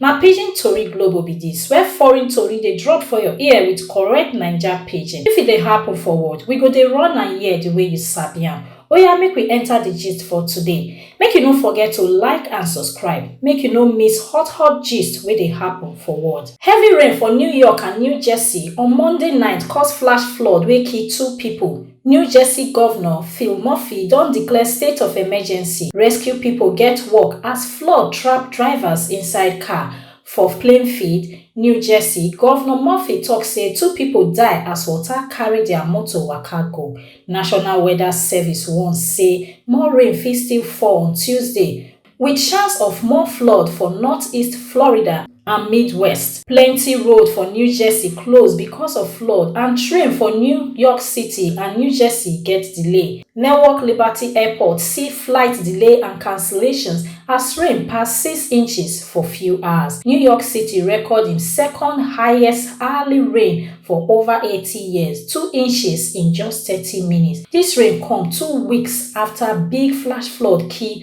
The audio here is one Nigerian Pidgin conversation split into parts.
Na pidgin tori globo be dis where foreign tori dey drop for your ear with correct naija pidgin. If e dey happen for world, we go dey run am here the way you sabi am. Oya make we enter the gist for today. Make you no forget to like and subscribe make you no miss hot hot gist wey dey happen for world. Heavy rain for New York and New Jersey on Monday night cause flash flood wey kill two people. new jersey govnor phil murphy don declare state of emergency rescue pipo get work as flood trap drivers inside car for plainfield new jersey govnor murphy tok say two pipo die as water carry dia motor waka go national weather service warn say more rain fit still fall on tuesday With chance of more flood for northeast Florida and Midwest. Plenty road for New Jersey close because of flood and train for New York City and New Jersey get delay. Newark Liberty Airport see flight delay and cancellations as rain pass six inches for few hours. New York City record im second highest hourly rain for over 80 years, two inches in just 30 minutes. Dis rain come two weeks after big flash flood kill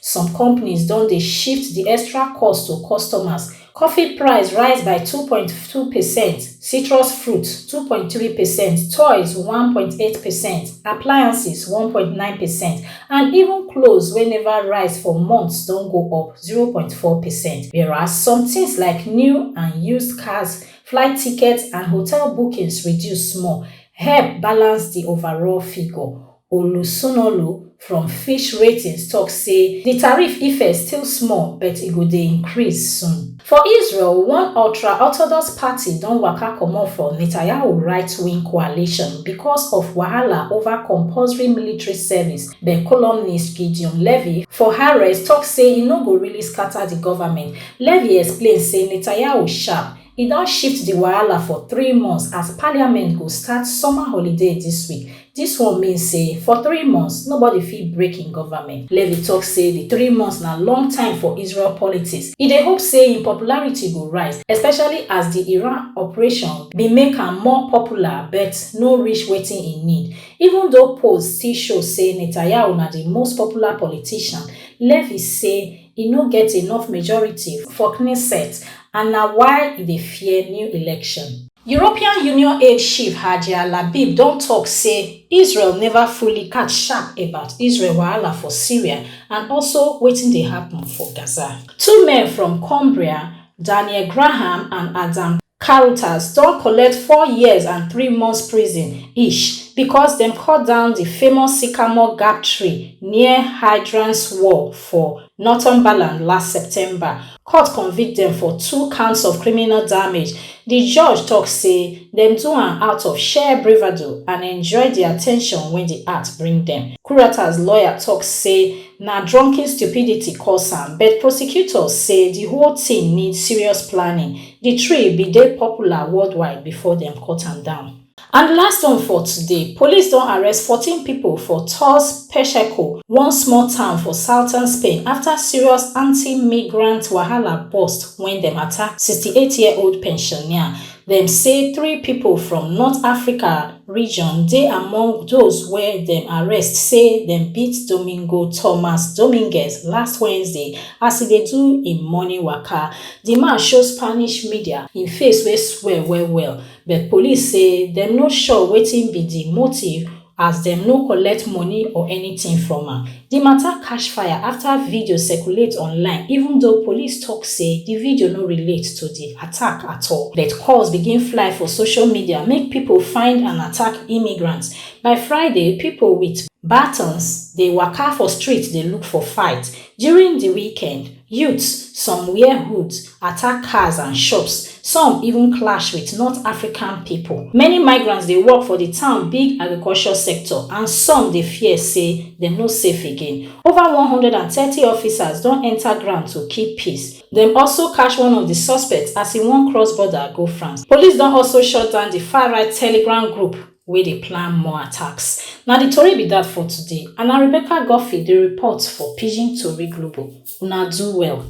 Some companies don dey shift di extra cost to customers, coffee price rise by two point two percent, citrus fruit two point three percent, toys one point eight percent, appliances one point nine percent and even clothes wey neva rise for months don go up zero point four percent whereas some tins like new and used cars, flight tickets and hotel bookings reduce small help balance di overall figure. Olusunolu from Fitch Ratings tok say di tariff effect still small but e go dey increase soon. For Israel, one ultra-Orthodox party don waka comot from Netanyahu right-wing coalition because of wahala over compulsory military service but columnist Gideon Levy for Haaretz tok say e no go really scatter di government. Levy explain say Netanyahu sharp, E don shift di wahala for three months as parliament go start summer holiday dis week. Dis one mean say for three months, nobody fit break im government. Levy tok say di three months na long time for Israel politics. E dey hope say im popularity go rise, especially as di Iran operation bin make am more popular but no reach wetin e need. Even though polls still show say Netanyahu na di most popular politician, Levy say e no get enough majority for Knesset and na why e dey fear new election. European Union aide chief Hajia Labib don tok say Israel neva fully catch sharp about Israel wahala for Syria and also wetin dey happun for Gaza. Two men from Cumbria, Daniel Graham and Adam. Karutas don collect four years and three months prison each because dem cut down di famous sycamore gap tree near Hydrange's Wall for Northumberland last September. Court convict dem for two counts of criminal damage. Di judge tok say dem do am out of sheer bravado and enjoy di at ten tion wey di art bring dem. Karutas lawyer tok say na drunken stupidity cause am, but prosecutors say di whole tin need serious planning. Di tree bin dey popular worldwide bifor dem cut am down. And di last one for today, police don arrest fourteen pipo for Torres Pacheco, one small town for southern Spain afta serious anti-migrant wahala burst wen dem attack sixty eight year old pensioner. Dem say three pipo from North Africa region dey among those wey dem arrest say dem beat Domingo Tomas Dominguez last Wednesday as e dey do im morning waka. Di man show Spanish media im face wey swell well-well, but police say dem no sure wetin be di motive as dem no collect money or anytin from am. Di mata catch fire afta video circulate online, even though police tok say di video no relate to di attack at all. But calls begin fly for social media make pipo find and attack immigrants. By Friday, pipo wit batons dey waka for streets dey look for fight. During di weekend, Youths, some wear hoods, attack cars and shops, some even clash with North African people. Many migrants dey work for the town big agriculture sector and some dey fear say dem no safe again. Over one hundred and thirty officers don enter ground to keep peace. Dem also catch one of the suspects as e wan cross border go France. Police don also shut down the far-right Telegram group. wey dey plan more attacks. Na di tori be dat for today and na Rebecca Guffey dey report for Pidgin Tori Global. Una do well.